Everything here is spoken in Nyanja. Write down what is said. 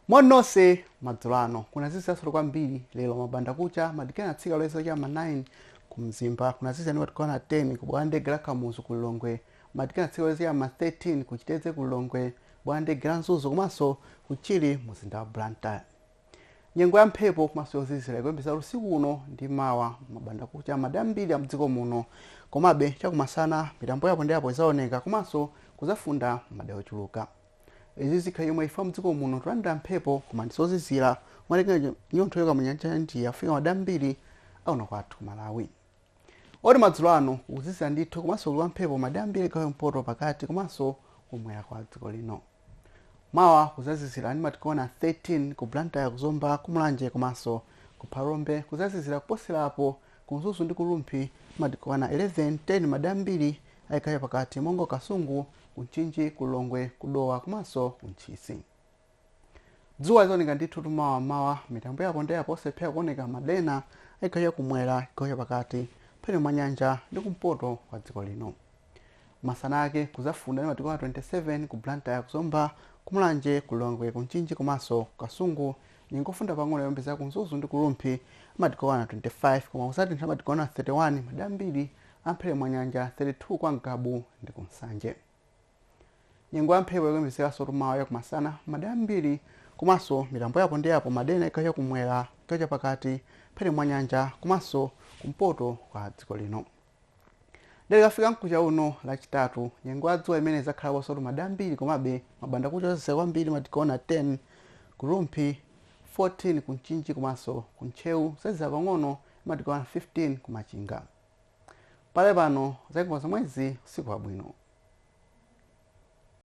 moni nonse madzulo ano kunaziziransotu kwambiri lero m'mbandakucha madigiri anatsika kuloza cha m'ma 9 ku mzimba kunazizira ndi madigiri okwana 10 ku bwalo la ndege la kamuzu ku lilongwe madigiri anatsika kuloza cha m'ma 13 ku chitedze ku lilongwe bwalo la ndege la mzuzu komanso ku chichiri mumzinda wa blantyre Nyengo ya mphepo komanso yozizira ikuyembezeka usiku uno ndi mawa m'mbandakucha madera ambiri amdziko muno. Komabe chakumasana mitambo yapo ndi apo izaoneka komanso kuzafunda madera ochuluka. Izi zikhala chomwechi chifukwa mdziko muno tikulandira mphepo koma ndi zozizira umatenga chinyontho kuchoka mu nyanja ya India kufika madera ambiri a kuno kwathu ku Malawi. oti madzulo ano kukuzizira ndithu komanso kuli kwa mphepo madera ambiri a chigawo cha kumpoto pakati komanso kumwera kwa dziko lino mawa kuzazizira ndi madigiri okwana 13 ku blantyre kuzomba kumulanje komanso ku phalombe kuzazizira kuposera apo ku mzuzu ndi ku rumphi madigiri okwana 11 10 madera ambiri a chigawo cha pakati monga kasungu ku mchinji ku lilongwe kudowa komanso kuntchisi Dzuwa lizaoneka ndithutu mawa m'mawa. Mitambo yapo ndi apo osalephera kuoneka madera ena a chigawo chakumwera, chigawo chapakati, mphepete mwa nyanja ndi kumpoto kwa dziko lino. Masana ake kuzafunda ndi madigiri okwana 27 ku Blantyre, ku Zomba, ku Mulanje, ku Lilongwe, ku Mchinji komanso ku Kasungu. Nyengo yofunda pang'ono ikuyembezeka ku Mzuzu ndi ku Rumphi madigiri okwana 25 koma kuzatentha madigiri okwana 31 madera ambiri a mphepete mwa nyanja, 32 kwa Ngabu ndi ku Nsanje. nyengo ya mphepo ikuyembekezekansotu mawa chakumasana madera ambiri komanso mitambo yapo ndi yapo madera ena a chigawo cha kumwera chigawo cha pakati mphepete mwa nyanja komanso kumpoto kwa dziko lino ndiye tikafika mkucha uno lachitatu nyengo ya dzuwa imene idzakhalansotu madera ambiri komabe m'mbandakucha kuzazizira kwambiri madigiri okwana 10 ku rumphi 14 ku mchinji komanso ku ntcheu kuzazizira pang'ono ndi madigiri okwana 15 ku machinga Pakali pano zaiko zomwezi usiku wabwino.